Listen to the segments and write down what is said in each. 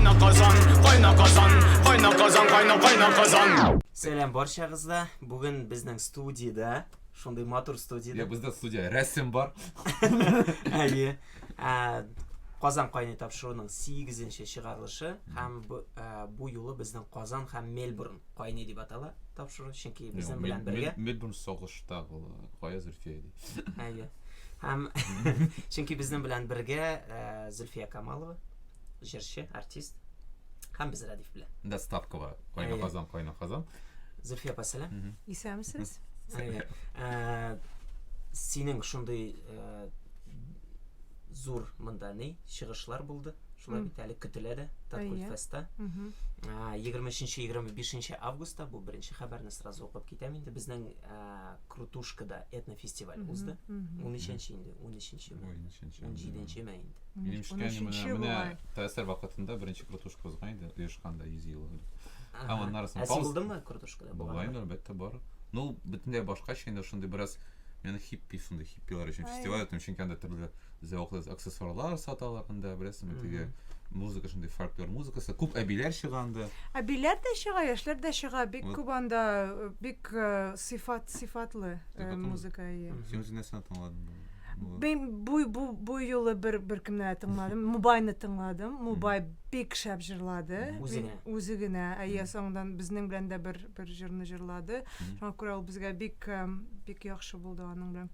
Кайна казан, кайна казан, кайна казан, кайна кайна казан. Сәлам барчагызга. Бүген безнең студиядә, шундый матур студиядә. Я бездә студия рәсем бар. Әйе. Ә, Казан кайный тапшыруның 8-нче чыгарылышы һәм бу, ә, бу юлы безнең Казан һәм Мельбурн кайный дип атала тапшыру, чөнки безнең белән бергә. Мельбурн сагышта була. Кая Зөлфия ди. Әйе. Һәм чөнки безнең белән бергә э, Зөлфия Камалова, җырчы, артист. Һәм без Радиф белән. Да ставкова. Кайна Әйе. казан, кайна казан. Зөлфия апа, сәлам. Исәнмесез? Әйе. Э, Синең шундый э, зур монда ни чыгышлар булды. Шулай бит әле көтелә дә Татгул Әйе. феста. Мгм. Ә, 23-25 августта бу беренче хәбәрне сразу укып китәм инде. Безнең ә, Крутушкада этнофестиваль узды. Унөченче инде, унөченчеме? Бу унөченче. Унҗиденчеме инде? Минем ишеткәнем, менә, менә ТСР вакытында беренче крутушка узган иде, оешканда, йөз ел элек. Һәм аннары соң Ә син булдыңмы крутушкада? Була инде, әлбәттә, бар. Ну, бөтенләй башкача инде, шундый бераз, менә хиппи, шундый хиппилар өчен фестиваль үткән, чөнки анда төрле зәвыклы аксессуарлар саталар анда, беләсеңме, теге музыка шундый фольклор музыкасы. Күп әбиләр чыга анда. Әбиләр дә чыга, яшьләр дә чыга. Бик вот. күп анда э, бик э, сыйфат сыйфатлы э, музыка ие. Син үзең нәрсәне тыңладың? Мин бу бу бу юлы бер беркемне дә тыңладым. Мубайны тыңладым. Мубай бик шәп җырлады. Үзе генә. Әйе, соңдан безнең белән дә бер бер җырны җырлады. Шуңа күрә ул безгә бик бик яхшы булды аның белән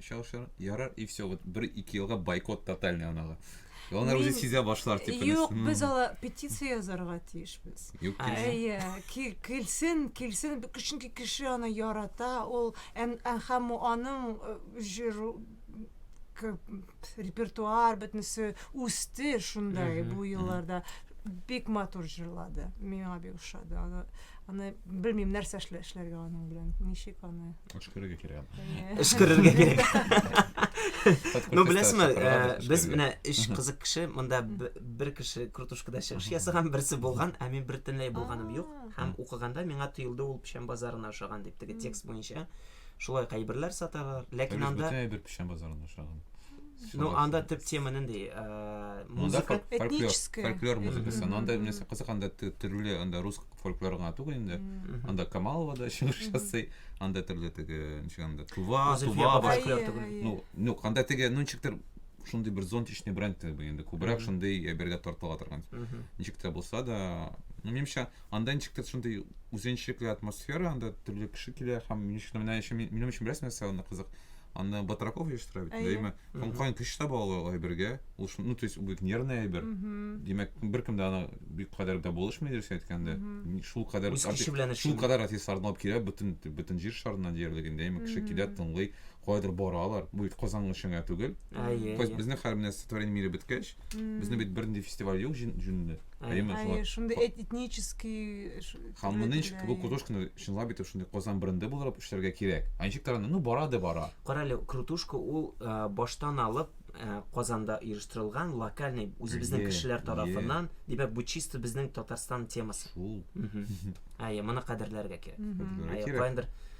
чалышыр. Ярар, и все, вот бер ике елга бойкот тотальный анага. И алар үзе сизә башлар тип. Юк, без ала петиция язарга тиешбез. Юк, әйе, килсен, килсен, чөнки кеше аны ярата, ул һәм аның э, җыру репертуар бөтенесе үсте шундай бу елларда бик матур җырлады миңа бик ошады аны Аны белмим нәрсә эшлә, эшләргә аның белән. Ничек аны? Өшкерергә кирәк. Өшкерергә кирәк. Ну беләсезме, э, без менә өч кызык кеше, монда бер кеше крутушкада чыгыш ясаган, берсе булган, ә мин бертенләй булганым юк. Һәм укыганда миңа тоелды ул печән базарына ошаган дип, теге текст буенча. Шулай ук әйберләр саталар, ләкин Дөрес, анда... бөтен әйбер печән базарында очраган. Ну, Шулай анда шулай. төп тема нинди? Э, Ну, анда Музыка. фольк- фольклор, Этническая. фольклор музыкасы. Но анда нәрсә кызык, анда тө- төрле, анда рус фольклоры гына түгел инде. Анда Камалова да чыгыш ясый, анда төрле теге, ничек анда, Тува, Зөлфия Тува, Бабай. башка. Фольклор түгел. Әйе, Ну, ну, анда теге, ну, ничектер, шундый бер зонтичный бренд теге инде, күбрәк шундый әйбергә тартыла торган. Ничек тә булса да, ну, минемчә, Анда ничек тә шундый үзенчәлекле атмосфера, анда төрле кеше килә һәм мин өчен менә өчен минем өчен бераз нәрсә анда кызык. Анда Батраков оештыра бит, әйеме? Һәм каян көч таба алалар алай бергә? Ул шул, ну, то есть, бик нервный әйбер. Димәк, беркем дә аны бик кадәр дә булышмый, дөрес әйткәндә. Шул кадәр Үз көче белән эшли. Шул кадәр артистларны алып килә бөтен бөтен җир шарыннан диярлек инде, әйеме? Кеше килә, тыңлый, каядыр баралар. Бу бит Казан өчен генә түгел. Әйе. Безнең хәл менә стихотворение мире беткәч, Безне бит бернинди фестиваль юк җүнле. Әйеме? Әйе, шундый этнический Һәм моны ничек бу крутушканы чынлап итеп шундый Казан бренды буларак эшләргә кирәк. Ә ничек таранды? Ну, бара да бара. Кара әле, крутушка ул баштан алып Казанда оештырылган локальный үзебезнең кешеләр тарафыннан, димәк, бу чисто безнең Татарстан темасы. Шул. Әйе, моны кадерләргә кирәк. Әйе, кайдыр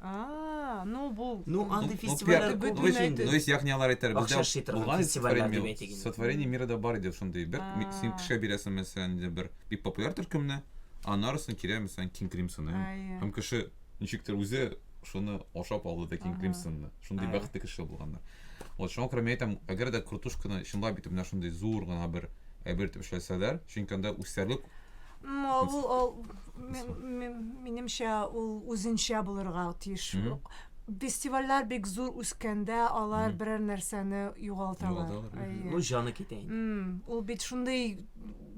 Ну, бу... Ну, андый фестивальләр күп бит инде. Ну, есть, ягъни алар әйтер, бездә булган сотворение, сотворение мира да бар иде шундый. Бер син кешегә бирәсең, мәсәлән, бер бик популяр төркемне, анарысын кирә, мәсәлән, King Crimson. Һәм кеше ничектер үзе шуны ашап алды да King Crimson-ны. Шундый бәхетле кеше булганнар. Вот шуңа күрә мин әйтәм, әгәр дә крутушканы чынлап итеп менә шундый зур гына бер әйбер итеп эшләсәләр, чөнки анда үсәрлек Минемчә, ул үзенчә булырга тиеш. Фестивальләр бик зур үскәндә, алар берәр нәрсәне югалталар. Ну, җаны китә инде. Ул бит шундый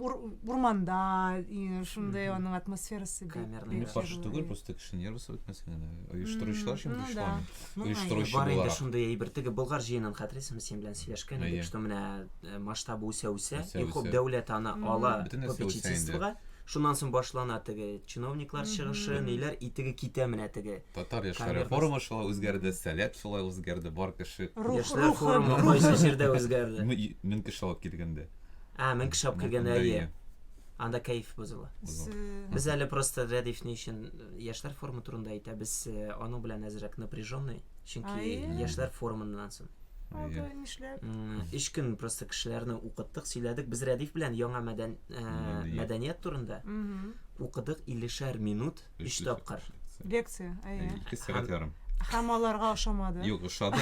урманда, шундый аның атмосферасы бит. Камерный гараж. Каршы түгел, просто кеше нервысы бетмәсен генә. Оештыручылар өчен бу шулай. Оештыручы буларак. Бар инде шундый әйбер. Теге Болгар җыенын хәтерлисеңме, син белән сөйләшкән идек, что менә Э, масштабы үсә үсә иң күп дәүләт аны ала попечительствога шуннан соң башлана теге чиновниклар чыгышы ниләр и теге китә менә теге татар яшьләре форумы шулай үзгәрде сәләт шулай үзгәрде бар кеше яшьләр форумы кайсы җирдә үзгәрде мең кеше алып килгәндә а мең кеше алып килгәндә әйе анда кәеф бозыла без әле просто рәдиф ни өчен яшьләр форумы турында әйтә без э, аның белән әзрәк напряженный чөнки яшьләр форумыннан соң Алды, нишләп? Өч көн просто кешеләрне укыттык, сөйләдек. Без Рәдиф белән яңа мәдән, ә, мәдәният турында укыдык 50 минут, өч тапкыр. Лекция, әйе. Ике сәгать ярым. Һәм аларга ошамады. Юк, ошады.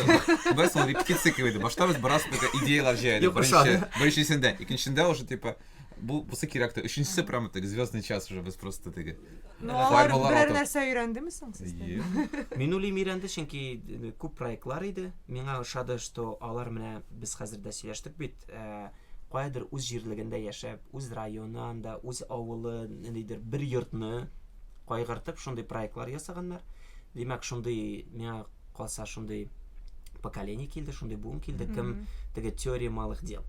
Без ул репетиция кебек Башта без бераз бөтә идеяләр җыйдык. Юк, ошады. Беренчесендә, икенчесендә уже типа бу бусы кирәк тә. Өченчесе прямо так звездный час уже без просто теге. Ну, Әнә алар формалар берәр атып. нәрсә өйрәндеме соң сездән? Ем. Мин уйлыйм өйрәнде, чөнки э, күп проектлар иде. Миңа ошады, что алар менә без хәзер дә сөйләштек бит, э, каядыр үз җирлегендә яшәп, үз районы анда, үз авылы, ниндидер бер йортны кайгыртып шундый проектлар ясаганнар. Димәк, шундый миңа калса шундый поколение килде шундый буын килде кем теге теория малых дел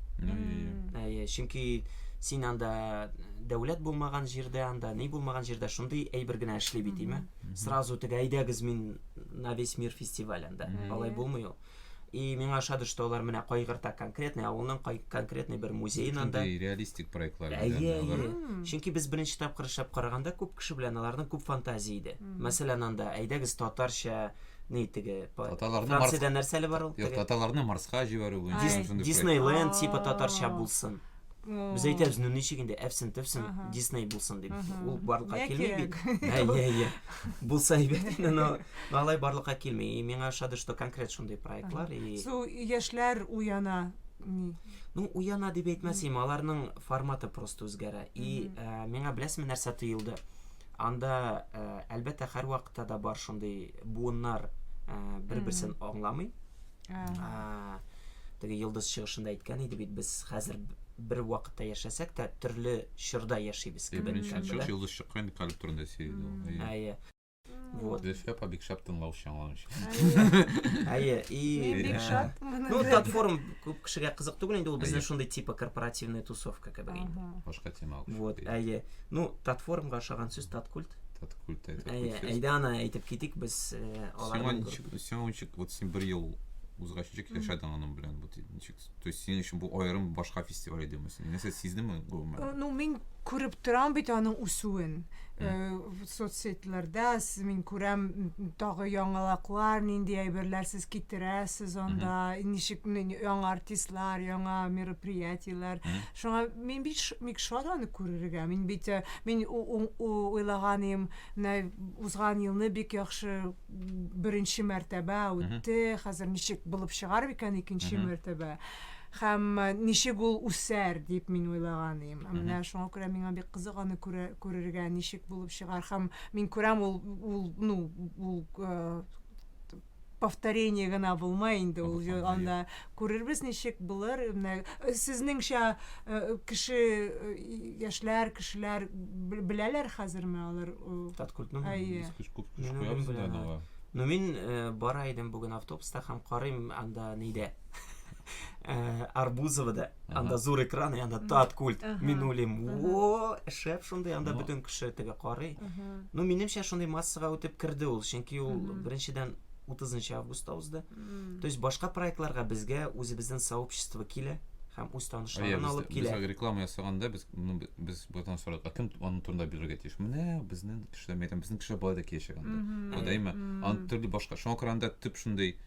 әйе чөнки син анда дәүләт булмаган җирдә анда ни булмаган җирдә шундый әйбер генә эшли бит име сразу теге әйдәгез мин на весь мир фестиваль анда алай булмый ул и миңа ошады что алар менә кайгырта конкретный авылның конкретный бер музеен анда реалистик проектлар әйе әйе чөнки без беренче тапкыр эшләп караганда күп кеше белән аларның күп фантазия иде Мәсәлән, анда әйдәгез татарча ни теге Франциядә нәрсәле бар ул? Юк, татарларны Марска җибәрү буенча. Диснейленд типа татарча булсын. Без әйтәбез, ну ничек инде әфсен төфсен Дисней булсын дип. Ул барлыкка килми бит. Әйе, әйе. Булса әйбәт, но алай барлыкка килми. И миңа ошады, что конкрет шундый проектлар и Су яшьләр уяна. Ну, уяна дип әйтмәсем, аларның форматы просто үзгәрә. И миңа беләсезме нәрсә тоелды? Анда, э, әлбәттә, һәрвакытта да бар шундый буыннар э, бер-берсен аңламый. Ә, Теге йолдыз чыгышында әйткән иде бит, без хәзер бер вакытта яшәсәк тә, төрле чорда яшибез Ә, кебек. Беренче чыгыш йолдыз чыккан инде калеб турында сөйләде ул. Әйе. Әйе. Вот. Зөлфия апа бик шәп тыңлаучы аңлаучы. Әйе, и Мин бик э, шат моны Ну, белән. платформ күп кешегә кызык түгел инде, ул безнең Әйе. шундый типа корпоративная тусовка кебек инде. Ага. Башка тема алып Вот, чыгып әйе. Ну, татформга ошаган сүз таткульт. Таткульт әйтеп Әйе, әйдә ана әйтеп китик без э, аларның. Сиңа ничек, сиңа ничек, вот син бер ел узгач ничек яшәдең аның белән? Вот ничек, то есть синең өчен бу аерым башка фестиваль идеме? Син нәрсә сиздеңме гомумән? Э, ну, мин күреп торам бит аның үсүен. Э, соцсетьләрдә мин күрәм тагы яңалаклар, нинди әйберләр сез китерәсез анда, ничек яңа артистлар, яңа мероприятиеләр. Шуңа мин бит ш мик шат аны күрергә. Мин бит, э, мин у уң у уйлаган ием, менә узган елны бик яхшы беренче мәртәбә Мгм. үтте, хәзер ничек булып чыгар икән икенче Мгм. мәртәбә? Һәм э, ничек ул үсәр, дип мин уйлаган ием. Ә Мгм. менә шуңа күрә миңа бик кызык аны күрә күрергә, ничек булып чыгар. Һәм мин күрәм, ул ул, ну, ул, э, повторение гына булмай инде ул җо- анда күрербез ничек булыр менә э, сезнеңчә э, кеше э, яшьләр кешеләр бел- беләләр хәзерме алар э, Таткультның әйе Без көч күп көч Мин куябыз үзем инде беләм, аны. Ну мин э, бара идем бүген автобуста һәм карыйм анда нидә. Э, Арбузова да, анда зур экран, анда тат культ, мин уйлыйм, о, шәп шундый, анда бөтен кеше теге карый. Ну, минемчә, шундый массага үтеп керде ул, чөнки ул беренчедән 30 августта узды. То есть башка проектларга безгә үзебездән сообщество килә һәм үз танышларын алып килә. Без реклама ясаганда без ну, без бөтен сорак, ә кем аның турында бирергә тиеш? Менә безнең кешеләр мәйтәм, безнең кешеләр болай да киләчәк анда. Дәйме, аны төрле башка. Шуңа күрә анда төп шундый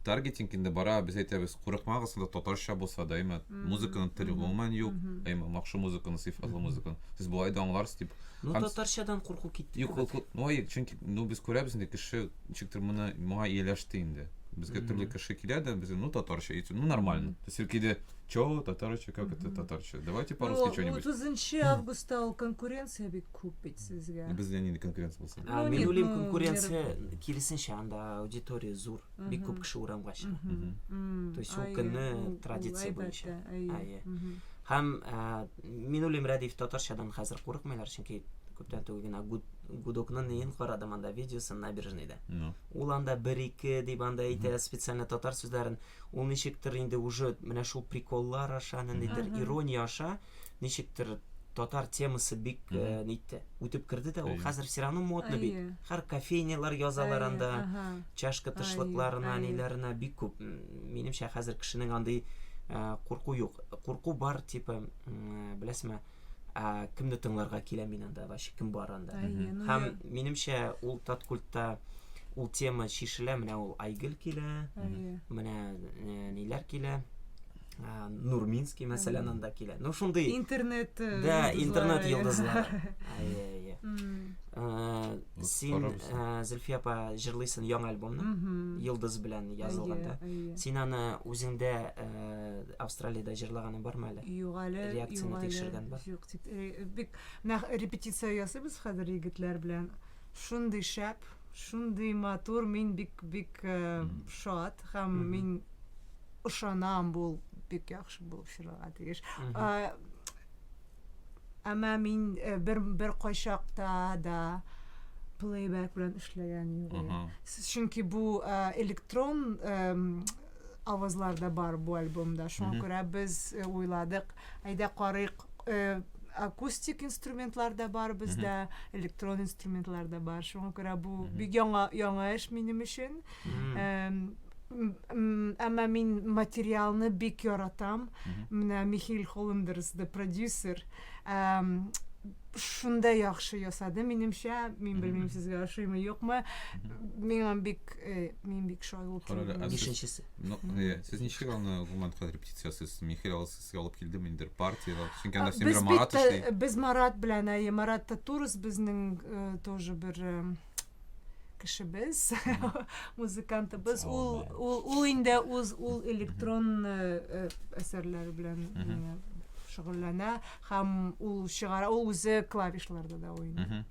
таргетинг инде бара, без әйтәбез, курыкмагыз, анда татарча булса да, әйме, музыканың теле гомумән юк, әйме, махшы музыканы, сыйфатлы музыканы. Сез болай да аңларсыз дип. Ну, татарчадан курку китте. Юк, курку, ну, ай, чөнки, ну, без күрәбез инде, кеше, ничектер моны, моңа ияләште инде. Безгә төрле кеше килә дә, без, ну, татарча, итсен, ну, нормально. То есть, иркиде, чо, татарча, как это татарча? Давайте по-русски что-нибудь. Ну, 30 августта ул конкуренция бик Күп бит сезгә. Без белән нинди конкуренция булсын? Ну, Мин нет, уйлыйм, ну, конкуренция мир- киресенчә, анда аудитория зур, бик Мгм. күп кеше урамга чыга. Мгм. Мгм. М, То есть ул әйе, көнне ул- ул традиция әлбәттә, буенча. әйе. Әйе. Мгм. Һәм ә, мин уйлыйм, Рәдиф татарчадан хәзер курыкмыйлар, чөнки күптән түгел генә гуд, гудокның неен карадым анда видеосын набережныйда. Ну. Ул анда бер-ике дип анда әйтә, специально татар сүзләрен. Ул ничектер инде уже менә шул приколлар аша, ниндидер Мгм. ирония аша ничектер татар темасы бик э, Мгм. нитте үтеп керде дә ул Әйе. хәзер все равно модно бит Әйе. һәр кофейнялар язалар Әйе, анда аһа. чашка тышлыкларына әйе. ниләренә бик күп М, минемчә хәзер кешенең андый э, курку юк курку бар типа м, э, беләсеңме э, кемне тыңларга килә мин анда вообще кем бар анда Әйе, ну һәм я- минемчә ул таткультта ул тема чишелә менә ул айгөл килә әйе. менә э, ниләр килә ә, нурминский мәсәлән анда килә ну шундый интернет э, да интернет йолдызлар ә, син ә, зөлфия апа җырлыйсың яңа альбомны йолдыз белән язылганда син аны үзеңдә ә, австралиядә җырлаганың бармы әле юк әле реакцияне тикшергән бар юк тик бик менә репетиция ясыйбыз хәзер егетләр белән Шундый шәп, шундый матур, мин бик бик шат һәм мин ышанам бу бик яхшы булып чыгарга тиеш. Әмма мин бер бер кайчакта да плейбэк белән эшләгән юк. Чөнки бу электрон авазлар да бар бу альбомда. Шуңа күрә без э, уйладык, әйдә карыйк, э, акустик инструментлар да бар бездә, электрон инструментлар да бар. Шуңа күрә бу бик яңа яңа эш минем өчен. Эм, м- м, Әмма мин материалны бик яратам. Менә Михаил Холлендерс, the producer, шунда яхшы ясады минемчә мин белмим сезгә ошыймы юкмы миңа бик э, мин бик шулай ул бишенчесе э, сез ничек аны гомумән кадәр репетиция ясыйсыз михаил алып сезгә алып килдем инде партияда чөнки анда син марат эшли без марат белән әйе марат татурс безнең э, тоже бер кешебез, музыкантыбыз, ул, ул, ул инде үз ул электрон э, әсәрләре белән э, шөгыльләнә һәм ул чыгара, ул үзе клавишларда да уйный.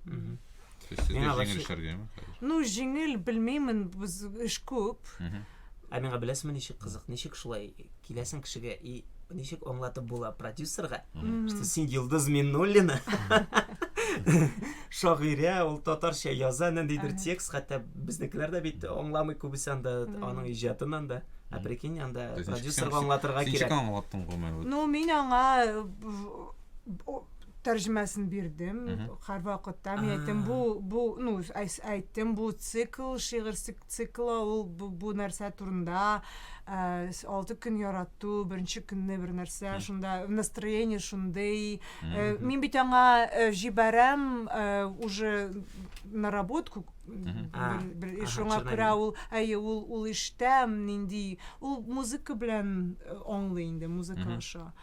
Ну, җиңел белмеймін, біз үш көп. Ә миңа беләсеңме ничек кызык, ничек шулай киләсең кешегә и ничек аңлатып була продюсерга, что син Йолдыз Миннуллина, шагыйрә, ул татарча яза, ниндидер текст, хәтта безнекеләр дә бит аңламый күбесе анда аның иҗатын анда. Ә прикинь, анда продюсерга аңлатырга кирәк. Ничек аңлаттың гомер? Ну, мин аңа тәрҗемәсен бирдем һәрвакытта. Мин әйттем, бу, бу, ну, әйттем, бу цикл, шигырь Цикла ул бу нәрсә турында, алты көн ярату, беренче көнне бер нәрсә, шунда настроение шундый. Мин бит аңа җибәрәм уже наработку шуңа күрә ул әйе ул ул иштә нинди ул музыка белән аңлый инде музыка аша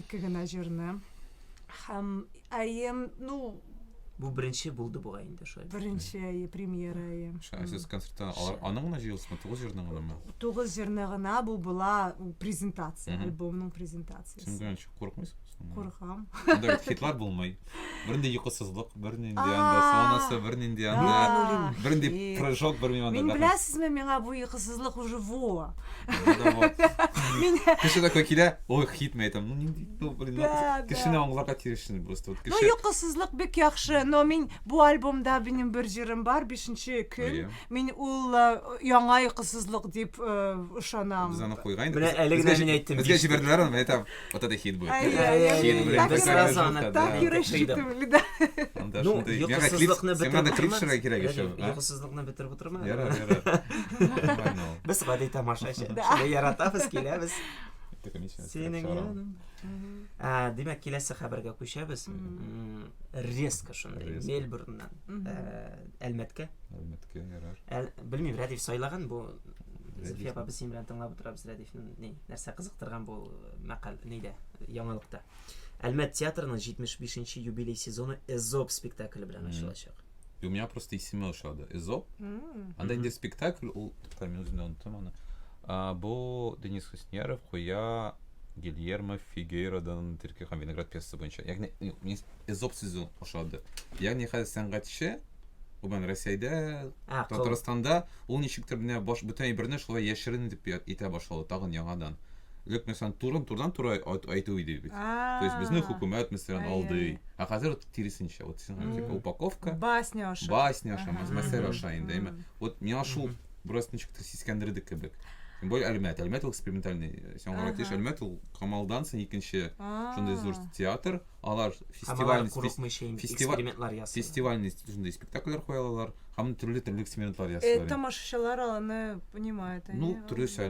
Ике генә җырны. Һәм әем, ну, Бу беренче булды бугай инде шулай. Беренче әйе, премьера әйе. Сез концертта аның гына җыелышмы, тугыз җырны гынамы? Тугыз җырны гына бу була презентация, альбомның презентациясе. Син генә чык курыкмыйсың? Курыкам. Анда хитлар булмый. Бернинди йокысызлык, бернинди анда сонасы, бернинди анда, бернинди прыжок, бер миңа Мин беләсезме, миңа бу йокысызлык уже во. Кеше такой килә, ой, хитме әйтәм, ну нинди, ну блин, кешене аңларга тиешсең просто. Вот кеше. Ну йокысызлык бик яхшы, но мин бу альбомда минем бер җырым бар, бишенче көн. Мин ул яңа йокысызлык дип ышанам. Без аны куйган идек. Менә әле генә мин әйттем. Безгә җибәрделәр аны, әйтәм. Вот это хит будет. А, я, я, хит, я, блин, так, так, разана, так, да. так и рассчитывали, да. Ну, йокысызлыкны бетереп Сен клипшерга кирәк еще. Йокысызлыкны бетереп утырма. Яра, яра. Без гади тамашачы. Шуны яратабыз, киләбез. Синең яның. Ә, димәк, киләсе хәбәргә күчәбез. Резко шундый Мельбурннан Әлмәткә. Әлмәткә ярар. Белмим, Рәдиф сайлаган бу. Зифия апа без синең белән тыңлап утырабыз, Рәдиф. Ни, нәрсә кызыктырган бу мәкаль нидә, яңалыкта? Әлмәт театрының 75 нче юбилей сезоны Эзоп спектакле белән ачылачак. И у меня просто исеме ошады. Эзоп. Анда инде спектакль, ул тукта мин үзем дә оныттым аны. А, бу Денис Хусняров куя Гильермо Фигейродан Терки һәм Виноград пьесасы буенча. Ягъни Эзоп сүзе ошады. Ягъни хәзер сәнгатьче Гомумән Рәсәйдә, а, Татарстанда ул ничектер менә баш бүтән әйберне шулай яшерен итеп итә башлады тагын яңадан. Лек мәсәлән турын турдан туры әйтү иде бит. То есть безне хөкүмәт мәсәлән алды. А хәзер вот тиресенчә. Вот типа упаковка. Басня аша. Басня аша, мәсәлән аша инде, әйме. Вот миңа шул бераз ничектер сискәндерде кебек. Тем более Әлмәт. Әлмәт ул экспериментальный. Э, Сиңа аңлатыш, Әлмәт ул Камалдан соң икенче шундый зур театр. алар фестиваль экспериментлар ясый фестивальный шундай спектакльләр куя алалар һәм төрле төрле экспериментлар ясыйлар э, тамашачылар аны понимают ну төрлечә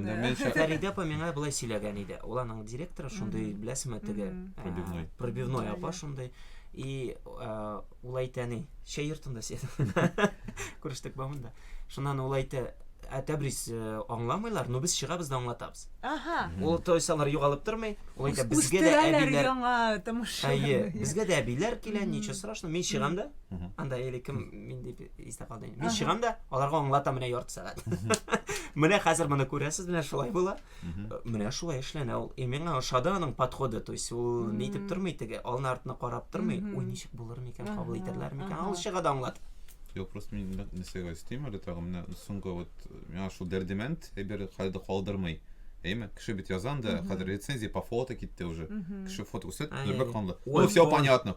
фәридә апа миңа былай сөйләгән иде ул аның директоры шундый беләсеңме теге пробивной пробивной апа шундый и ул әйтә ни чәй йортында күрештек бамында Шуннан ул әйтә, ә тәбрис э, аңламыйлар, но без чыгабыз да аңлатабыз. Ага. Ул тойсалар югалып тормый. Ул әйтә, безгә дә Үстерәләр әбиләр яңа томыш. Әйе, безгә дә әбиләр килә, ничего страшного. Мин чыгам да, анда или кем мин дип истә калды. Мин чыгам да, аларга аңлатам менә ярты сәгать. Менә хәзер моны күрәсез, менә шулай була. Менә шулай эшләнә ул. И миңа ошады аның подходы, то есть ул нитеп тормый теге, алны артына карап тормый. Уй, ничек булыр микән, кабул итәрләр микән? Ал чыга да аңлатып. Юк, просто мин нәрсәгә өстим әле тагын менә соңгы вот миңа шул дәрдемәнд әйбер хәлдә калдырмый. Әйме, кеше бит язан да, хәзер рецензия по фото китте уже. Кеше фото күрсәт, бер канлы. Ну, все понятно.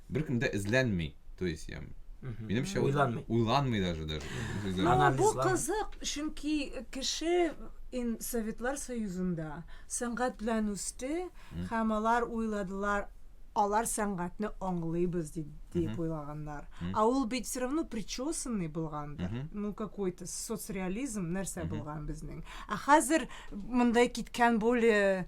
беркем дә эзләнми то есть я минемчә уйланмый уйланмый даже даже ну бу кызык чөнки кеше ин советлар союзында сәнгать белән үсте һәм алар уйладылар алар сәнгатьне аңлыйбыз дип дип уйлаганнар а ул бит все равно причесанный булгандыр ну какой то соцреализм нәрсә булган безнең ә хәзер мондай киткән более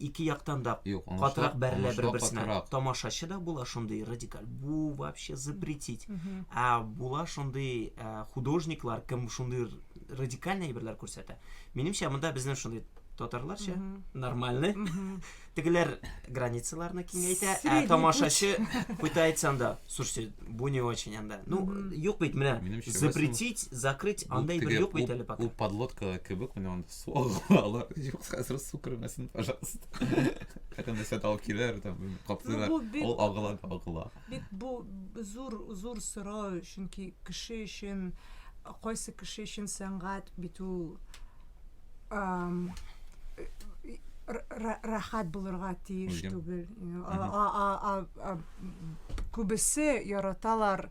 Ике яктан да Юк, уңышлар- катырак бәрелә уңышлар бер-берсенә. катырак. Тамашачы да була шундый радикаль. Бу вообще запретить. Ә була шундый ә, художниклар, кем шундый р- радикальный әйберләр күрсәтә. Минемчә, монда безнең шундый татарларча, нормальный. Тегеләр границаларны киңәйтә, ә Средний тамашачы пытается анда. Слушайте, бу не очень анда. Ну, юк бит менә Минемчә, запретить, закрыть, Бу андый бер теге юк бит ут- әле пока. Ут подлодка кебек менә анда Алар юк хәзер су кермәсен, пожалуйста. Хәтта нәрсә алып киләр, там каплыйлар. Ул агыла, агыла. Бит бу зур зур сорау, чөнки кеше өчен кайсы кеше өчен сәнгать бит ул рәхәт булырга тиеш түгел. Күбесе яраталар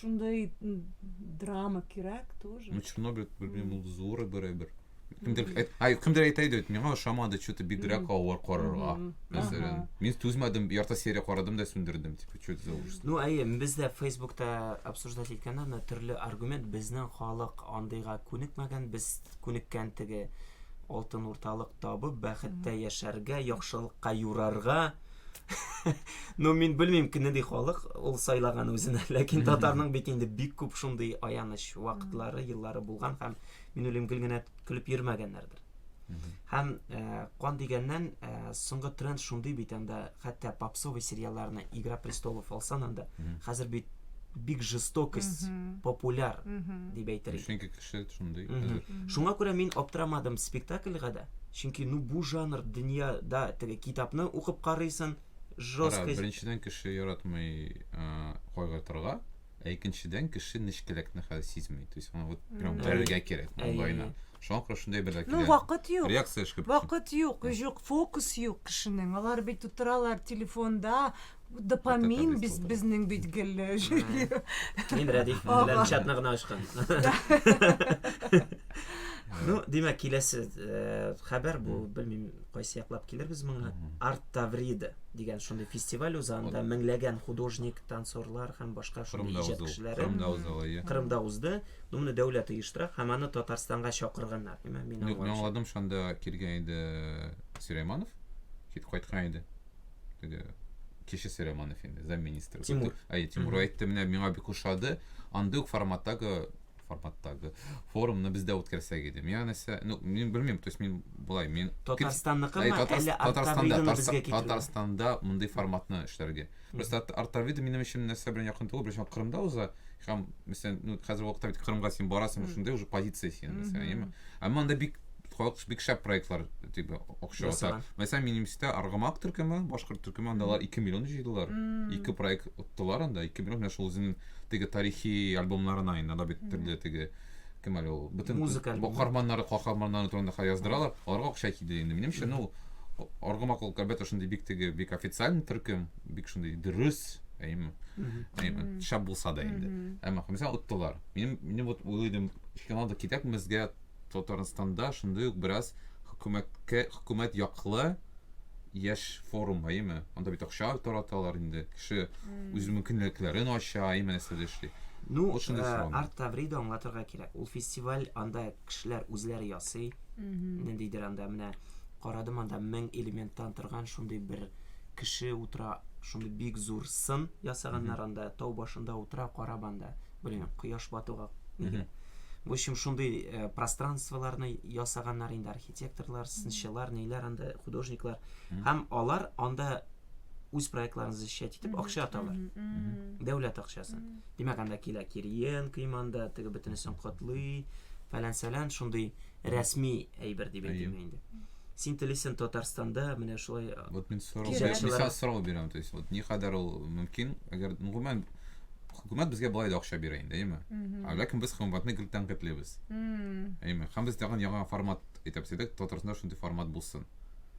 Шундый драма кирәк тоже. Очень много белмим ул зуры берәбер. Кемдер әйт- ай, кемдер әйтә иде, миңа ошамады, что-то бигрәк авыр карарга. Мгм. Мәсәлән, Ага. мин түзмәдем, ярты серия карадым да сүндердем, типа, что это за ужас. Ну, әйе, без дә Фейсбукта обсуждать иткәндә, аны төрле аргумент, безнең халык андыйга күнекмәгән, без күнеккән теге алтын урталык табып, бәхеттә яшәргә, яхшылыкка юрарга. ну мин белмим кемне ди халык ул сайлаган үзенә ләкин татарның бит инде бик күп шундый аяныч вакытлары еллары булган һәм мин уйлыйм гел генә көлеп йөрмәгәннәрдер һәм э, кан дигәннән э, соңгы тренд шундый бит анда хәтта попсовый сериалларны игра престолов алсан анда хәзер бит бик жестокость популяр дип әйтер идем кеше шундый. Шуңа күрә мин аптырамадым спектакльга да. Чөнки ну бу жанр дөньяда теге китапны укып карыйсын, жестко. Беренчедән кеше яратмый кайгыртырга, ә икенчедән кеше нечкәлекне хәзер сизми. То есть аңа вот прям бәрергә кирәк маңгаена. Шуңа күрә шундый бер дә Ну вакыт юк. Реакция эшкә. Вакыт юк, юк, фокус юк кешенең. Алар бит утыралар телефонда, Бу допамин без безнең бит гел Мин Рәдиф белән чатны гына ачкан. Ну, димәк, киләсе э, хәбәр бу, белмим, кайсы яклап килербез моңа. Арт Таврида дигән шундый фестиваль уза, анда меңләгән художник, танцорлар һәм башка шундый иҗат кешеләре Кырымда узды алай. Кырымда узды. Ну, моны дәүләт оештыра һәм аны Татарстанга чакырганнар. Мин аңладым, шунда килгән иде Сирайманов, кит кайткан иде. теге кешесе Романов инде, замминистр. Тимур. Әй, Тимур әйтте, менә миңа бик ошады. Андый ук форматтагы форматтагы форумны бездә үткәрсәк иде. Миңа нәрсә, ну, мин белмим, то есть мин булай, мин Татарстанныкы ма, әллә Артавиданы безгә китерү? Татарстанда мондый форматны эшләргә. Просто Артавида минем өчен нәрсә белән якын түгел, беренче Кырымда уза, һәм мәсәлән ну хәзер вакытта бит кырымга син барасың шундай уже позиция син мәсәлән яме әмма анда бик халык бик шәп проектлар типа акча ата мәсәлән минемчә аргамак төркеме башкорт төркеме анда алар ике миллион җыйдылар ике проект оттылар анда ике миллион менә шул үзенең теге тарихи альбомнарына инде анда бит төрле теге кем әле ул бөтен музыка каһарманнары каһарманнары турында яздыралар аларга акча киде инде минемчә ну аргамак ул әлбәттә шундый бик теге бик официальный төркем бик шундый дөрес әйеме әйеме шәп булса да инде әмма мәсәлән оттылар мин мин вот уйлыйдым финалда китәкмезгә татарстанда шундый ук бераз хөкүмәткә хөкүмәт яклы яшь форум әйеме анда бит акча тараталар инде кеше үз мөмкинлекләрен ача әйеме нәрсәдә эшли Ну, э, Арт Таврида аңлатырга кирәк. Ул фестиваль анда кешеләр үзләре ясый. Ниндидер анда менә карадым анда мең элементтан торган шундый бер кеше утыра, шундый бик зур сын ясаганнар анда, тау башында утыра, карап анда, блин, кояш батуга нигә. В общем, шундый э, пространстволарны ясаганнар инде архитекторлар, сынчылар, ниләр анда, художниклар. Һәм алар анда үз проектларын защищать итеп акча аталар. Дәүләт акчасы. Димәк, анда килә Кириенко иманда, теге бөтенесен котлый, фәлән-сәлән, шундый рәсми әйбер дип әйтим инде. Син телисен Татарстанда менә шулай э, Вот мен сорау мисал сорау бирәм, то есть вот ни кадәр ул мөмкин, әгәр ну гомумән хөкүмәт безгә былай да акча бирә инде, әйме? Ә ләкин без хөкүмәтне гел тәнкыйтьлибез. Әйме? Һәм без тагын яңа формат әйтәбез идек, Татарстанда шундый формат булсын.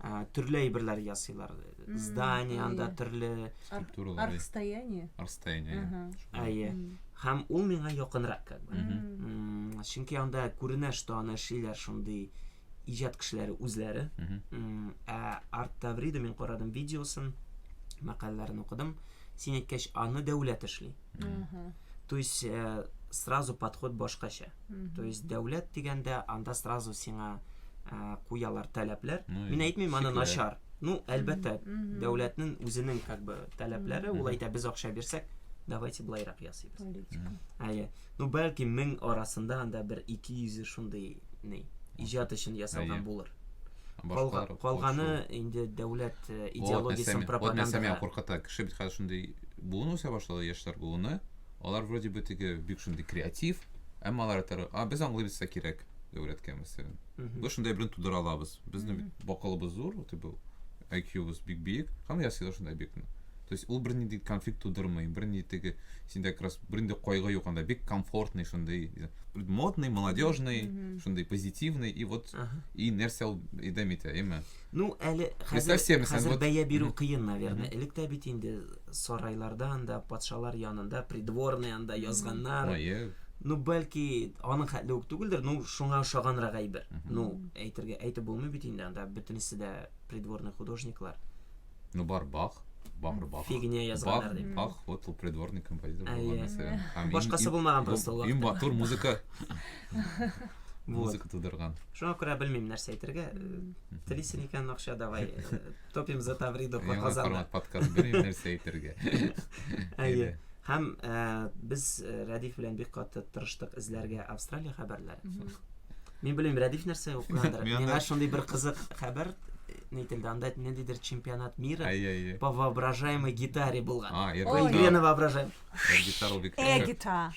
ә, төрле әйберләр ясыйлар. Здание анда әйе. төрле Структуралар. әйе. Архстояние. Арстояние. әйе. Ага. Шулай. әйе. М. Һәм ул миңа якынрак как бы. Мгм. М, Чөнки анда күренә, что аны эшлиләр шундый иҗат кешеләре үзләре. Мгм. М, Ә Арт Таврида мин карадым видеосын, мәкаләләрен укыдым. Син әйткәч, аны дәүләт эшли. Угу. То есть э, сразу подход башкача. Угу. То есть дәүләт дигәндә анда сразу сиңа э, куялар таләпләр. Ну, Мин әйтмим аны начар. Ну, әлбәттә, дәүләтнең үзенең как бы таләпләре, ул әйтә без акча бирсәк, давайте былайрак ясыйбыз. Политика. Әйе. Ну, бәлки мең арасында анда бер 200 шундый ни, иҗат өчен ясалган булыр. Башкалар калганы инде дәүләт э, идеологиясен пропаганда. Вот нәрсә куркыта. Кеше бит хәзер шундый буын үсә башлады, яшьләр буыны. Алар вроде бы теге бик шундый креатив, әмма алар әйтәләр, а без аңлыйбыз да кирәк дәүләткә мәсәлән. Без шундай белән тудыра алабыз. Безнең бит бакылыбыз зур, вот был. IQ-быз бик биек. Һәм ясыйлар шундай объектны. То есть ул бернинди конфликт тудырмый, бернинди теге синдә как раз бернинди кайгы юк анда, бик комфортный шундый, модный, молодежный, шундый позитивный и вот и нәрсә ул идем итә, әйме? Ну, әле хәзер хәзер бәя бирү кыен, наверное. Элек тә бит инде сарайларда анда, патшалар янында, придворный анда язганнар. Ну, бәлки аның хәтле үк түгелдер, ну, шуңа ошаганрак әйбер. Ну, әйтергә әйтеп булмый бит инде анда бөтенесе дә придворный художниклар. Ну, бар Бах, бар Бах. Фигня язганнар Бах, дип. Бах, вот ул придворный композитор Әйе. булган нәрсә. Һәм иң- Башкасы иң- булмаган бу- просто ул Иң вакытта. матур музыка. Вот. Музыка тудырган. Шуңа күрә белмим нәрсә әйтергә. Э, Телисен икән акча давай. э, Топим за Тавридо Яңа Казанда. формат подкаст белмим нәрсә әйтергә. Әйе. Һәм э, без э, Рәдиф белән бик каты тырыштык эзләргә Австралия хәбәрләре. Мгм. Мин белмим, Рәдиф нәрсә укыгандыр. Миңа шундый бер кызык хәбәр ни телдә, анда ниндидер чемпионат мира по воображаемой гитаре булган. А, Иргена воображаем. Гитара бик Э-гитара.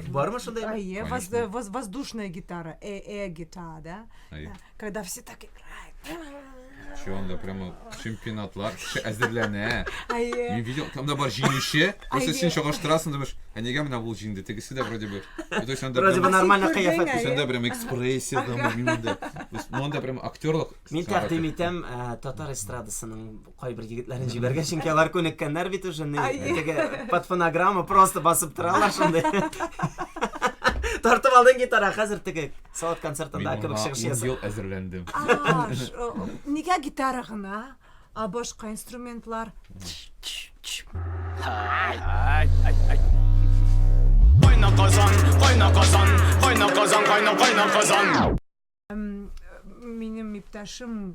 Бармы шундай? Э, воздушная гитара, э-э-гитара, да? Когда все так играют. Şu anda прямо чемпионатлар кеше әзерләнә. Әйе. Мин видел, там да бар җиңүче. Просто син чагыштырасың, думаешь, ә нигә менә ул җиңде, тегесе дә вроде бы. То есть анда Вроде бы прямо- нормально Син кыяфәт. күрдең, Сәндә прям экспрессия там, минем да. То есть, ну, анда прям актерлык. Мин сәгате. тәкъдим итәм ә, татар эстрадасының кайбер егетләрен җибәргән, чөнки алар күнеккәннәр бит уже. не- Әйе. Теге под фонограмма просто басып торалар шундый. Тартып алдың гитара, хәзер теге Салат концертында Мин кебек чыгыш ясап. ел әзерләндем. Нигә гитара гына? А башка инструментлар? Кайна казан, кайна казан, кайна казан, кайна кайна казан. Минем иптәшем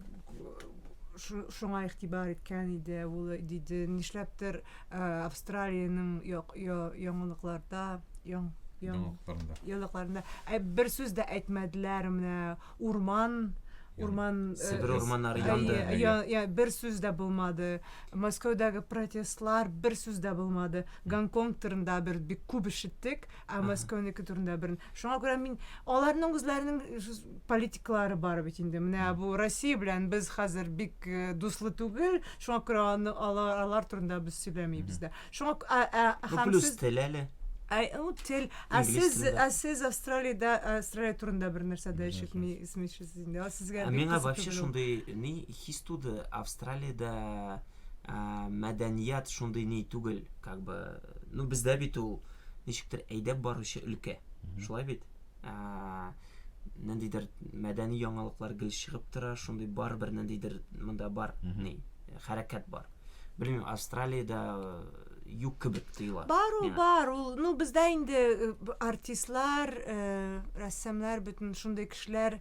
шуңа игътибар иткән иде, ул диде, нишләптер Австралиянең яңалыкларда, яң, яң, яңалыкларында. Ә бер сүз дә әйтмәделәр менә урман урман Себер урманнары янды. Я, я, бер сүз дә булмады. Мәскәүдәге протестлар бер сүз дә булмады. Гонконг турында бер бик күп ишеттек. Ә Мәскәүнеке турында бер. Шуңа күрә мин аларның үзләренең политиклары бар бит инде. Менә бу Россия белән без хәзер бик э, дуслы түгел. Шуңа күрә аны алар, алар турында без сөйләмибез дә. Шуңа к- ә, ә, Ну, һәм плюс сез- тел әле. Ә, ну, тел. Ә Инглиз сез, телендә. ә сез Австралиядә, Австралия турында бер нәрсә дә ишетми, исмишсез инде. А сезгә Ә бик миңа кызык вообще түгел ул. шундый ни хис туды, Австралиядә ә, мәдәният шундый ни түгел, как бы, ну бездә бит ул ничектер әйдәп баручы өлкә. Шулай бит? Ниндидер мәдәни яңалыклар гел чыгып тора, шундый бар бер ниндидер монда бар, ни, хәрәкәт бар. Белмим, Австралиядә юк кебек тоела. Бар ул, бар ул. Ну, бездә инде артистлар, рәссамнар, бөтен шундый кешеләр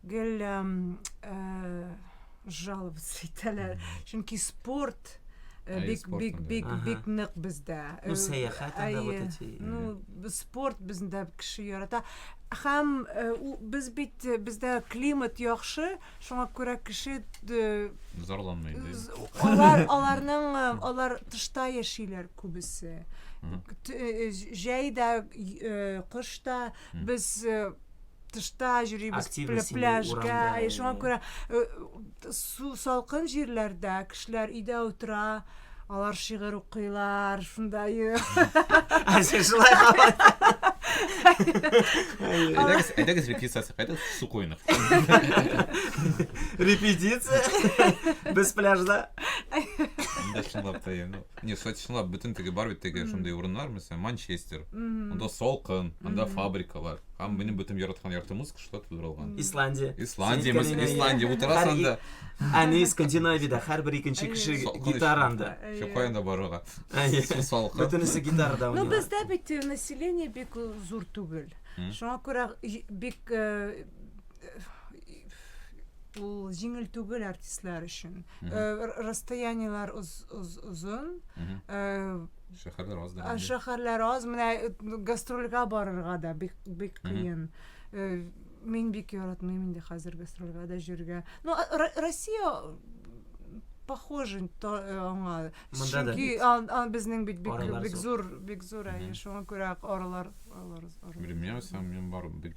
гел жаловаться итәләр. Чөнки спорт бик бик бик бик нык бездә. Ну сәяхәт анда вот эти. Ну спорт бездә кеше ярата. Һәм без бит бездә климат яхшы, шуңа күрә кеше зарланмый. Алар аларның алар тышта яшиләр күбесе. Җәй дә, кыш та Без тышта йөрибез, пляжга, шуңа күрә су салкын җирләрдә кешеләр өйдә утыра, алар шигырь укыйлар, шунда Әйдәгез репетициясе кайтып, су куйнык. Репетиция? Без пляжда? Инде шунлап та Не, кстати, чынлап бөтен теге бар бит теге шундый урыннар, мәсәлән, Манчестер. Анда салкын, анда фабрикалар. Һәм минем бөтен яраткан ярты музыка шулай тудырылган. Исландия. Исландия, Синең мәсәлән, кәләйнә, Исландия иә. утырасың Һәр анда. и- Әни Скандинавиядә һәрбер икенче кеше Әйе. Салкын гитара ич. анда. Әйе. Еще каян да барырга. Әйе. Су салкын. Бөтенесе гитарада Ну, уйныйлар. бездә бит э, население бик э, зур түгел. Мгм. Шуңа күрә и- бик э, ул җиңел түгел артистлар өчен. Расстояниеләр озын. Шәһәрләр аз да. Шәһәрләр аз, менә гастрольгә барырга да бик бик кыен. Мин бик яратмыйм инде хәзер гастрольгә дә җөргә. Ну, Россия похоже аңа. Чөнки безнең бит бик бик зур, бик зур, шуңа күрә аралар, аралар. Белмәсәм, мин барып бик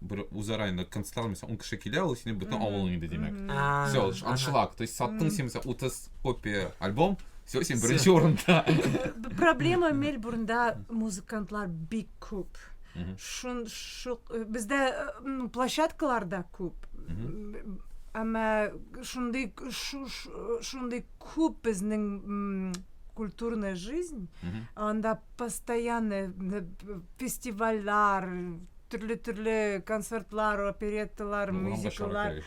бер үзара инде концертлар мисал ун кеше килә ул синең бөтен авылың инде димәк все аншлаг то есть саттың син мисал утыз копия альбом все син беренче урында проблема мельбурнда музыкантлар бик күп шун шук э, бездә э, площадкалар да күп әмма шундый шундый күп безнең культурная жизнь анда постоянно фестивальләр, төрле-төрле концертлар, оперетталар, мюзикллар.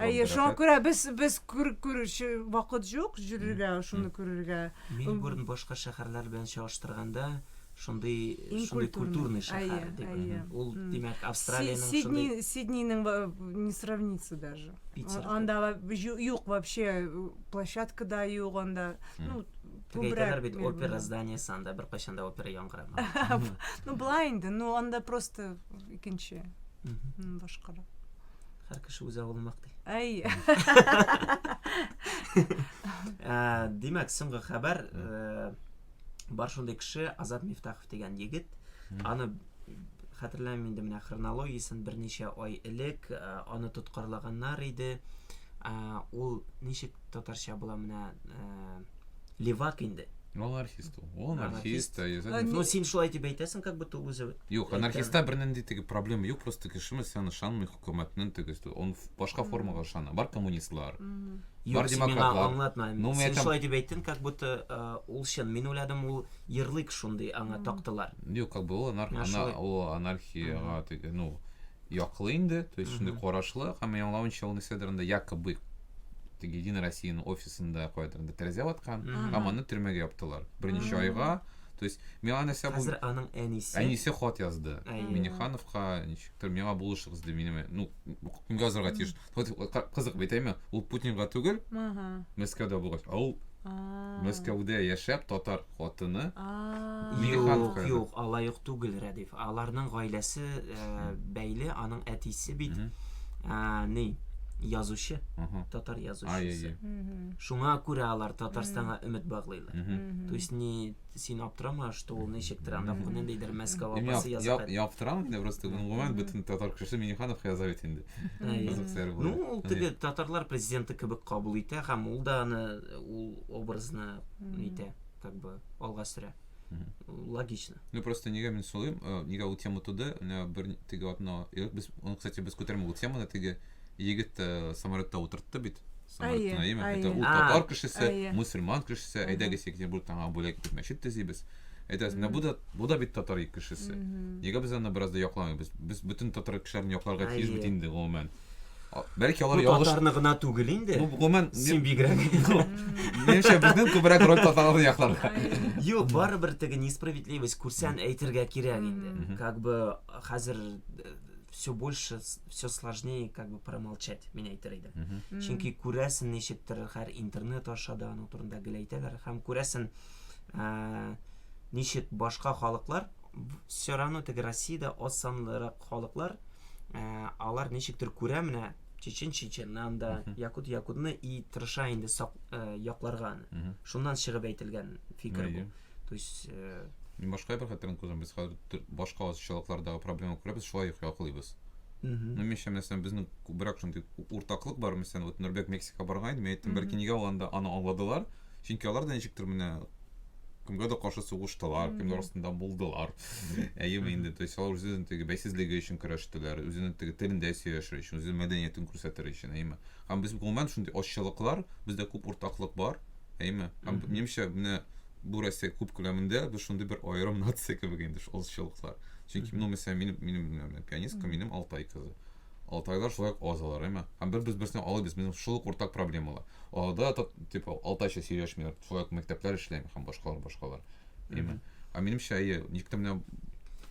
Әйе, шуңа күрә без без күрүче вакыт юк җөрергә, шуны күрергә. Мельбурн башка шәһәрләр белән чагыштырганда шундый шундый культурный шәһәр дип. Ул димәк Австралиянең шундый Сидни Сиднинең не сравнится даже. Анда юк вообще площадка да юк анда. Ну, Теге әйтәләр бит опера зданиесе анда беркайчан да опера яңгырамаган. Ну былай инде, ну анда просто икенче. Башкарак. Һәр кеше үз авылын мактый. Әй. Э, димәк, соңгы хәбәр э, бар шундый кеше Азат Мифтахов дигән егет. Аны хәтерләмим инде менә хронологиясен берничә ай элек э, аны тоткарлаганнар иде. Ул ничек татарча була менә э, левак инде. Ул анархист ул. Ул анархист. Э, ну, син шулай дип әйтәсең, как будто үзе. Юк, анархистта бернинди теге проблема юк, просто кешеме сен ышанмый хөкүмәтнең тегесе. Он башка формага ышана. Бар коммунистлар. Бар демократлар. Аңлатма. Ну, син шулай дип әйттең, как будто э, ул чын. Мин уйладым, ул ярлык шундый аңа тактылар. Юк, как бы ул анархия, ул анархияга теге, ну, яклы инде, то есть шундый карашлы, һәм мин аңлавымча ул нәрсәдер инде якобы теге Единая Россиянең офисында кайдыр инде тәрәзә ваткан, һәм аны төрмәгә яптылар. Берничә айга, то есть миңа нәрсә бу Хәзер аның әнисе. Әнисе хат язды. Әйе. Минехановка, ничектер, миңа булышыгыз ди, минем, ну, кемгә язарга тиеш? Вот кызык бит әйме, ул Путинга түгел, Мәскәүдә булгач, а ул Мәскәүдә яшәп татар хатыны. Юк, юк, алай юк түгел, Рәдиф. Аларның гаиләсе э, бәйле, аның әтисе бит э, ни, язучы, татар язучысы. Шуңа күрә алар Татарстанга өмет баглыйлар. То есть не Син аптырама, что ул ничектер анда ниндидер Мәскәү апасы язып. Мин аптырам инде просто гомумән бөтен татар кеше Миниханов яза бит инде. Ну, ул теге татарлар президенты кебек кабул итә һәм ул да аны ул образны итә, как бы алга сөрә. Логично. Ну просто нигә мин сулыйм, э, нигә ул тема туды, менә бер теге атна, без, он, кстати, без күтәрмә ул теманы, теге егет э, самолетта утыртты бит. Самаркан Наима, әйе. әйтә, ул А. татар кешесе, Әйе. мусульман кешесе, әйдәгез Екатеринбургтан аңа бүләк итеп мәчет төзибез. Әйтәбез, менә бу да, бу да бит татар кешесе. Нигә без аны бераз да якламыйбыз? Без бөтен татар кешеләрен якларга тиеш Әйе. бит инде, гомумән. А, Бәлки алар Бу ялгыш... татарны гына түгел инде. Бу, гомумән, Син бигрәк. менимчә, безнең күбрәк роль татарларны якларга. Юк, барыбер теге несправедливость күрсән әйтергә кирәк инде. Как бы хәзер э, все больше все сложнее как бы промолчать мин әйтер идем mm -hmm. чөнки күрәсен ничектер хәр интернет аша да аның турында гел әйтәләр һәм күрәсен ә, ничек башка халыклар все равно теге россиядә аз санлырак халыклар ә, алар ничектер күрә менә чечен чеченнан да якут якутны и тырыша инде сак, ә, якларга аны шуннан чыгып әйтелгән фикер бу То есть... Э, Мин башка бер хәтерен күзем, без хәзер башка азчылыклардагы проблема күрәбез, шулай ук яклыйбыз. Ну, мин шәм мәсәлән, безнең күбрәк шундый уртаклык бар, мәсәлән, вот Нурбек Мексика барган иде, мин әйттем, бәлки нигә ул анда аны аңладылар, чөнки алар да ничектер менә кемгә дә каршы сугыштылар, кемнәр астында булдылар. Әйеме инде, то есть алар үзенең теге бәйсезлеге өчен көрәштеләр, үзенең теге телендә сөйләшер өчен, үзенең мәдәниятен күрсәтер өчен, әйеме. Һәм без гомумән шундый ачылыклар, бездә күп уртаклык бар, әйме һәм менимчә менә бу россия күп күләмендә без шундый бер аерым нация кебек инде шул олсчылыклар чөнки ну мәсәлән минем минем пианистка минем алтай кызы алтайлар шулай ук аз алар әйме һәм бер без берсенә алыбыз безнең шул ук уртак проблемалар аларда да типа алтайча сөйләшмиләр шулай ук мәктәпләр эшләми һәм башкалар башкалар әйме ә минемчә әйе никтә менә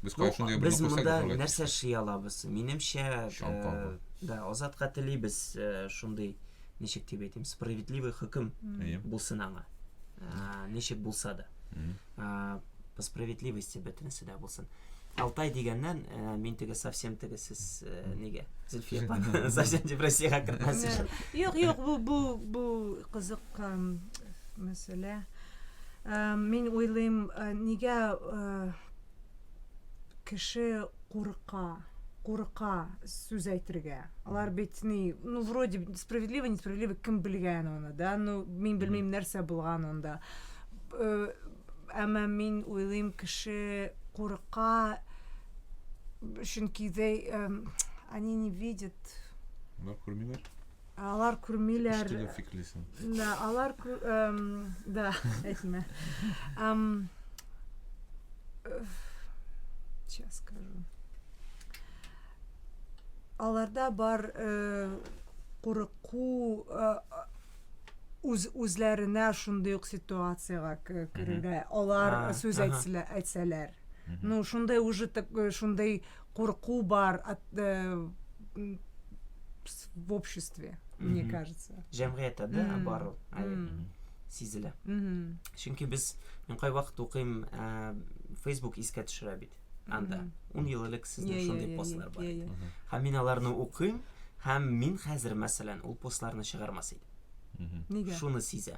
без кая шундый без монда нәрсә эшли алабыз минемчә э, да азатка телибез э, шундый ничек дип әйтим, справедливый хөкем булсын аңа. Ничек булса да. По справедливости бөтенесе дә булсын. Алтай дигәннән, э, мин теге совсем теге сез э, нигә? Зөлфия апа, совсем депрессиягә кертмәс өчен. Юк, юк, бу бу бу кызык мәсьәлә. Э, мин уйлыйм, нигә кеше курка, курка сүз әйтергә. Алар бит ни, ну вроде справедливо, несправедливо кем белгән аны, да? Ну, мин белмим нәрсә булган анда. Э, әмма мин уйлыйм кеше курка чөнки they эм, они не видят. Алар күрмиләр. Ә алар күрмиләр. Штыгы фиклисен. Да, алар кү... Эм, да, әйтмә. Эм... Сейчас скажу. Аларда бар э, курыку э, үз үзләренә шундый ук ситуациягә керергә алар сүз әйтсәләр ну шундай уже так шундай курку бар в обществе, мне кажется. Җәмгыятьтә дә бар ул. Сизелә. Чөнки без мин кайвакыт укыйм, Facebook искә төшерә бит. Анда 10 ел элек сезнең шундый постлар бар иде. Һәм мин аларны укыйм, һәм мин хәзер мәсәлән ул постларны чыгармас идем. Нигә? Шуны сизәм.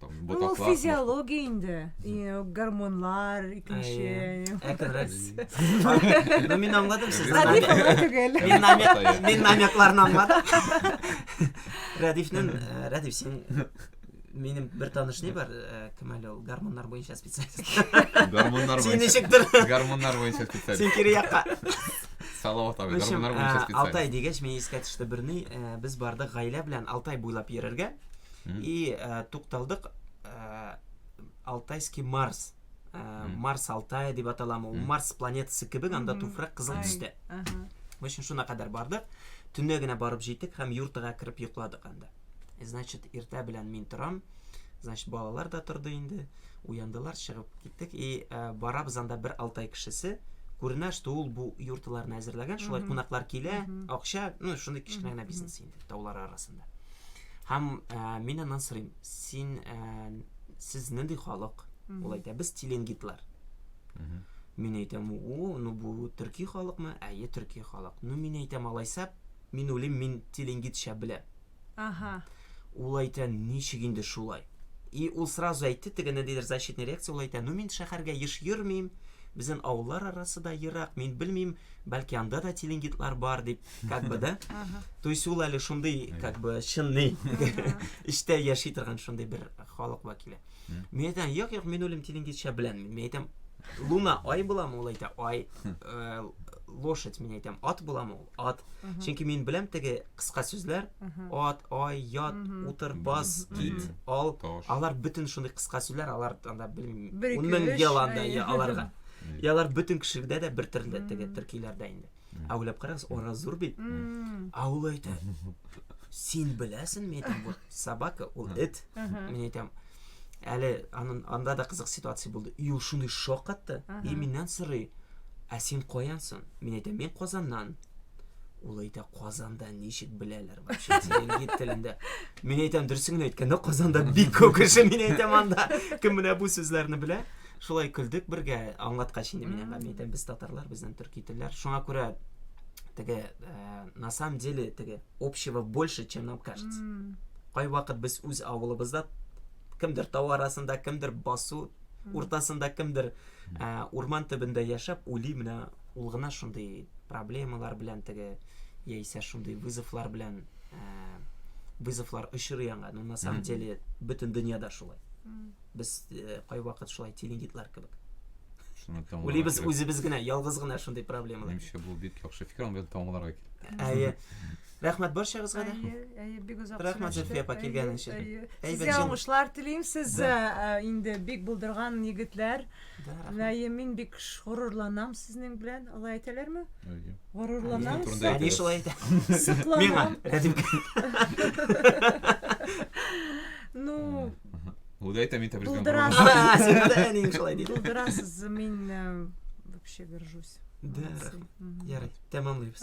Ул физиология инде. Гормонлар, икенче. Әкрерәк. Ну, мин аңладым сез. Радиф аңлый түгел. Мин намек, мин намекларны аңладым. Радифнен, э, Радиф, син минем бер таныш не бар, э, кем әле ул гормоннар буенча специалист. Гормоннар буенча. Син ничектер? Гормоннар буенча специалист. Син кире якка. Салават абый, гормоннар буенча э, специалист. Алтай дигәч, мин искә төште берни, без бардык гаилә белән Алтай буйлап йөрергә. Mm. И ә, тукталдык ә, Алтайский Марс. Ә, mm. Марс Алтай дип аталам. Ул mm. Марс планетасы кебек, анда mm -hmm. туфрак кызыл төстә. Uh -huh. Өчен шуна кадәр бардык. Төнне генә барып җитек һәм йортыга кереп йокладык анда. Э, значит, иртә белән мин торам. Значит, балалар да торды инде. Уяндылар, чыгып киттек. И ә, барабыз анда бер Алтай кешесе күренә, что ул бу йортларны әзерләгән, шулай кунаклар килә, акча, ну, шундый кечкенә генә бизнес. таулары арасында. Һәм ә, мин аннан сорыйм, син ә, сез нинди халык? Ул әйтә, без теленгитлар. Мин әйтәм, у, ну бу төрки халыкмы? Әйе, төрки халык. Ну мин әйтәм, алайса, мин уйлыйм, мин теленгитча беләм. Ага. Ул әйтә, ничек инде шулай? И ул сразу әйтте, теге ниндидер защитный реакция ул әйтә, ну мин шәһәргә еш йөрмим, безнең авыллар арасы да ерак, мин белмим, бәлки анда да теленгитлар бар дип. как бы да то есть ул әле шундый как бы чынный эчтә яши торган шундый бер халык вәкиле мин әйтәм юк юк мин үлем тилингичә беләнмен мин әйтәм луна ай буламы ул әйтә ай э, лошадь мин әйтәм ат буламы ул ат чөнки мин беләм теге кыска сүзләр ат ай ят утыр бас кит ал алар бөтен шундый кыска сүзләр алар анда белмим ун мең ел анда аларга алар бөтен кешеләрдә дә бер төрле теге төркиләрдә инде Ә уйлап карагыз, ара зур бит. Ә ул әйтә, син беләсен, мин әйтәм, вот собака, ул эт. Мин әйтәм, әле анын, анда да кызык ситуация булды. И ул шуны шок атты, и миннән сорый, ә син каянсын? Мин әйтәм, мин Казаннан. Ул әйтә, Казанда ничек беләләр вообще теленгит телендә. Мин әйтәм, дөресен генә әйткәндә, Казанда бик күп кеше, мин әйтәм, анда кем менә бу сүзләрне белә. Шулай көлдек бергә, аңлаткач инде мин әңгәмә әйтәм, без татарлар, бездән төрки телләр. Шуңа күрә теге э, на самом деле теге общего больше, чем нам кажется. Кай вакыт без үз авылыбызда кемдер тау арасында, кемдер басу уртасында, кемдер э, урман төбендә яшәп ули менә ул гына шундый проблемалар белән теге яисә шундый вызовлар белән э, вызовлар очрый аңа. Ну на самом деле бөтен дөньяда шулай. Без кайвакыт шулай телегитлар кебек. Шуны тәмамларга Үлибез кирәк. үзебез генә, ялгыз гына шундый проблемалар. Минемчә, бу бик яхшы фикер, аны белән тәмамларга кирәк. Әйе. Рәхмәт барчагызга да. Әйе, әйе, бик озак Рәхмәт, сөйләштек. Зөлфия апа, Әйе, килгәнең өчен. әйе. Әйбәт Сезгә җан- уңышлар телим. Сез Да. э, инде бик булдырган егетләр. Да, рәхмәт. Әйе, мин бик ш- горурланам сезнең белән. Алай әйтәләрме? Әйе. Горурланам. Сезнең турында Әни шулай әйтә. Миңа, Сокланам. Рәдим. Ну, Үзе әйтә, мин тәбризгә Булдырасыз. Булдырасыз, мин вообще горжусь. Ярый, тәмамлыйбыз.